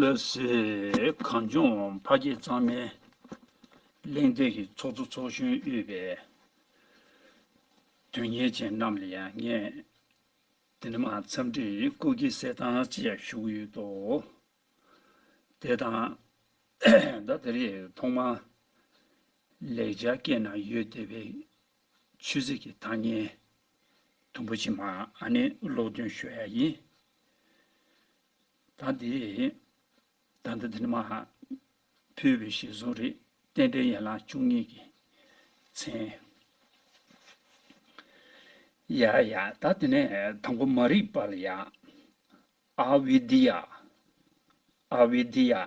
ལོས་ཟེར། གངས་ལྗོངས་ཕ་སྐད་གཙང་མའི་གླེང་སྟེགས་ཀྱི་ཚོགས་གཙོ་ཚོགས་གཞོན་དབུས་པའི་དོན་གཉེར་ཅན་རྣམས་ལ་ཡང་ངས་འདི་ནས་མ་འཚམས་འདྲིའི་སྐུ་སྐྱེ་གསལ་བཏང་བཅས་ཞུ་གི་ཡོད་དོ། དེ་དང། ཟླ་འདི་རེས་ཐོག་མར་ལེགས་སྦྱར་སྐད་ནང་ཡོད་བསྡད་པའི་ཆོས་རྗེ་ཀྱི་ཐང་སྙན། དུམ་བུ་ཕྱི་མ་ནི་ཀློག་འདོན་ཤོད་ཡ་ཡིན། ད་འདི། ད་ལྟ་འདི་ནི་མ། ཕུལ་བའི་ཞལ་གསུང་རེད། རྟེན་འབྲེལ་ཡན་ལག་བཅུ་གཉིས་ཀྱི། མཚན། ཡ་ཡ། ད་འདི་ནི་དང་པོ་མ་རིག་པ་ལ་ཡ། ཨཱ་བི་དི་ཡ། ཨཱ་བི་དི་ཡ།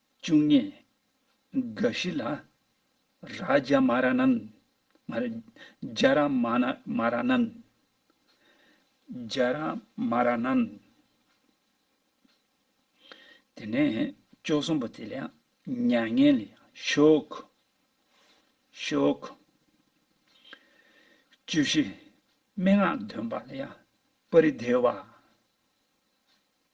བཅུ་གཉིས། དགའ་བཞི་ལ། ར་ཇ་མ་ར་ནན། མ་རེད། རྒྱ་ར་མ་ན་མ་ར་ནན། རྒྱ་ར་མ་ར་ནན། དེ་ནས་བཅུ་གསུམ་པོ་དེ་ལ་ཡང་མྱ་ངན་ལས་ཤོག། ཤོག། བཅུ་བཞི། སྨྲེ་སྔགས་འདོན་པ་ལ་ཡང་པ་རི་དེ་བ།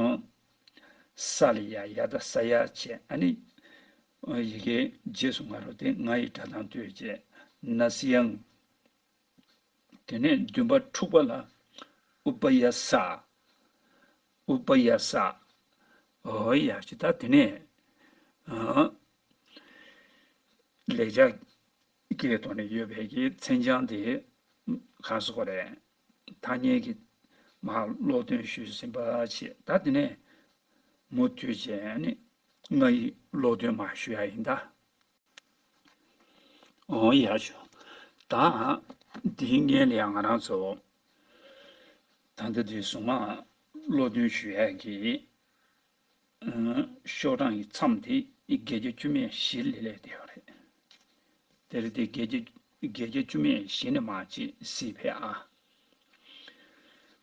ཨོ། ས་ལ་ཡ་ཡ་ད་ས་ཡ་བྱས་ཨ་ནི། ཨོ་ཡི་གེ་རྗེས་སུ་ང་རོ་དེ་ང་ཡི་སྒྲ་དང་ལྟོས་བཅས་ན་སི་ཡང། དེ་ནས་བདུན་པ་དྲུག་པ་ལ་ཨུ་པ་ཡ་ས། ཨུ་པ་ཡ་ས། ཨོ་ཡ་ཅི་ད་དེ་ནས། ཨོ། ལས་བྱ། ཀའི་ཐོག་ནས་ཡོད་པའི་ཀའི་མཚན་བྱང་དེ། གང་སུ་ཀོ་རེད། ཐ་སྙད་ཀྱི་མ་ཀློག་འདོན་ཞུས་ཟིན་པ་ཆེད་ད་དེ་ནས་མུ་མཐུད་ཅེས་ནི་ང་ཡིས་ཀློག་འདོན་མ་ཞུ་ཡ་ཡིན་ད། འོང་ཡ་ཞུ་ད། དེའི་སྔན་ལ་ཡང་ང་རང་ཚོ་ད་ལྟ་དེ་གཟུངས་མ་ཀློག་འདོན་ཞུ་ཡ་གི། ཤོག་གྲངས་ཀྱི་མཚམས་དེ་བརྒྱད་བརྒྱ་བཅུ་མེད་བཞིར་ལས་ལས་འདས་པ་རེད། དེར་དེ་བརྒྱད་བརྒྱ་བརྒྱད་བརྒྱ་བཅུ་མེད་བཞི་ནི་མ་བྱེད་སྲིད་པས་ཨ།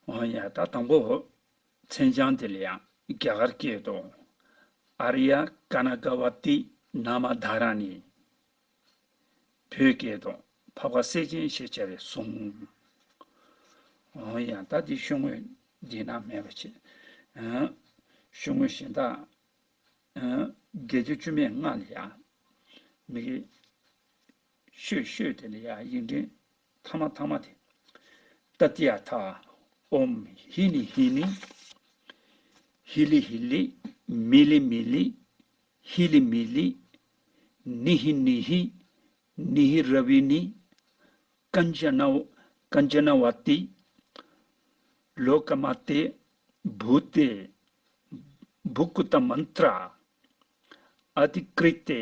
འོ་ཡ། ད་དང་པོ་མཚན་བྱང་དེ་ལ་ཡང་རྒྱ་གར་སྐད་དུ། ཨ་རི་ཡ་ཀ་ན་ཀ་བ་ཏི་ན་མ་དྷ་ར་ནི། བོད་སྐད་དུ། བབ་ཁ་སེ་ཆེན་ཞེས་བྱ་བའི་གཟུངས། ཡང་དག་འདི་ཤོད་དངོས་འདི་ན་མེད་པར་བྱེད། ཤོད་དངོས་གཞན་དག། དགེ་སྡིག་བཅུ་མེད་ལྔ་ལ་ཡང། མི་དགེ། ཤོད་ཤོད་དེ་ལ་ཡང་ཡིག་འབྲིང། ཐ་མ་ཐ་མ་དེ། ཏཱ་ཏི་ཡ་ཐ། ཨོམ། ཧི་ལི་ཧི་ལི། ཧི་ལི་ཧི་ལི། མི་ལི་མི་ལི། ཧི་ལི་མི་ལི། ནི་ཧི་ནི་ཧི། ནི་ཧི་ར་བི་ནི། ཀ་ན་ཇ་ན་བ། ཀ་ན་ཇ་ན་བ་ཏི། ལོ་ཀ་མ་ཏེ། བུ་ཏེ། བུ་ཀུ་ཏ་མན་ཏྲ། ཨ་ཏི་ཀྲི་ཏེ།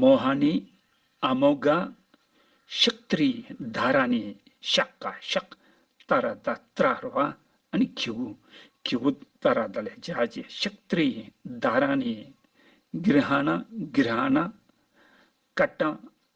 མོ་ཧ་ནི་ཨ་མོ་ག། ཤག་ཏྲི་ད་ར་ནི་ཤག་ག་ཤག། ཏཱ་ར་ད་ཏྲ་ར་བ་ནི་ཁི་བུ་ཁི་བུ་ཏཱ་ར་ད་ལ་ཇ་ཇི་ཤག་ཏྲི་ད་ར་ནི་གིར་ཧ་ན་གིར་ཧ་ན། ཀ་ཏྲ་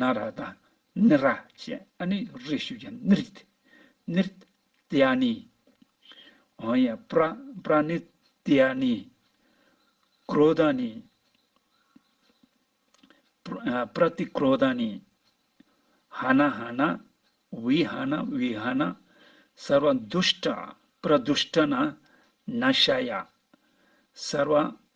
ནཱ་ར་དང་ནི་ར་ཅན་ཨ་ནི་རེ་ཞུ་ཡང་ནི་རི་ནི་རི་ཏི་ཨ་ནི་ཨོ་ཡ་པྲ་པྲ་ནི་ཏི་ཨ་ནི་ཀ་རོ་དཱ་ནི་པྲ་ཏི་ཀ་རོ་དཱ་ནི་ཧ་ན་ཧ་ན་བི་ཧ་ན་བི་ཧ་ན་སར་བ་འདུ་ཤྲཱི་པྲ་འདུ་ཤྲཱི་ན་ན་ཤ་ཡ་སར་བ་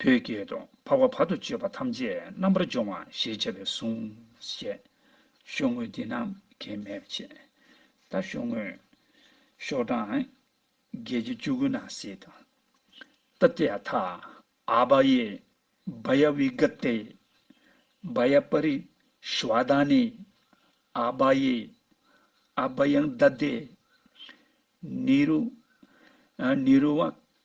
བོད་སྐད་དུ། འཕགས་པ་བར་དུ་གཅོད་པ་ཐམས་ཅད་རྣམ་པར་སྦྱོང་བ་ཞེས་བྱ་བའི་གཟུངས། ཞེས། ཤོག་ངོས་འདི་རྣམས་ཀྱི་མེད་པ་ཆད། ད་ཤོག་ངོས། ཤོག་གྲངས། བརྒྱད་ཅུ་བཅུ་དགུ་ན་སི་དང། ཏཱ་ཏི་ཡ་ཐཱ། ཨཱ་བ་ཡེ། བཱ་ཡ་བི་ག་ཏེ། བཱ་ཡ་པ་རི་ཤི་བ་དཱ་ནི། ཨཱ་བ་ཡེ། ཨཱ་བ་ཡང་དཱ་དེ། ནི་རུ། ནི་རུ་བ།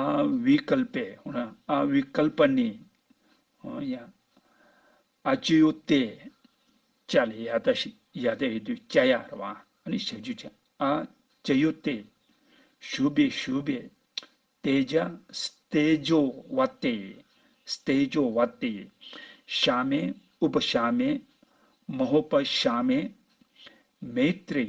ཨཱ-བྷི-ཀལ-པའི། ཨཱ-བྷི-ཀལ-པ-ནི། ཡང། ཨཱ-ཅི-ཡོ-ཏའི། ཅཱ་ལས་ཡཱ་ཏཱ་ཞེས་ཡཱ་ཏཱ་ཡོད་དུས་ཅཱ་ཡཱ་ར་བ་ནི་ཞབས་རྗེས་ཀྱི་ཨཱ-ཅི-ཡོ-ཏའི། ཞུ་བའི་ཞུ་བའི། ཏའི་ཅཱ། སྟེ-ཇོ-བ-ཏའི། སྟེ-ཇོ-བ-ཏའི། ཤཱ-མའི། ཨུ-པ-ཤཱ-མའི། མ་ཧོ་པ་ཤཱ་མའི། མེ་ཏྲའི།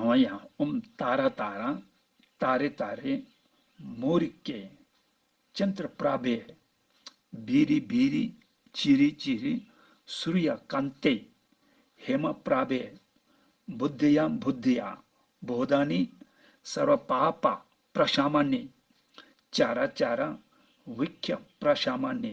ཨོ་ཡ་ཨོམ་ཏཱ་ར་ཏཱ་ར་ཏཱ་རེ་ཏཱ་རེ། མོ་རི་ཀེ། ཅན་ཏྲ་པྲ་བེ། བི་རི་བི་རི། ཅི་རི་ཅི་རི། སུ་རི་ཡ་ཀན་ཏེ། ཧེ་མ་པྲ་བེ། བུ་དི་ཡ་བུ་དི་ཡ། བོ་དཱ་ནི། སར་བ་པ་ཨ་པ། པྲ་ཤ་མ་ནི། ཅཱ་ར་ཅཱ་ར། བྷི་ཀ། པྲ་ཤ་མ་ནི།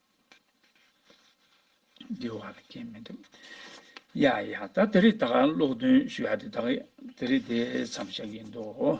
འདུལ་བ་ལ་རྐྱེན་མི་འདུག། ཡ་ཡ་ད་དེ་རིགས་དག་ཀློག་འདོན་ཞུ་ཡ་དེ་དག་དེ་རིགས་དེ་ཙམ་བཞག་གི་འདུག།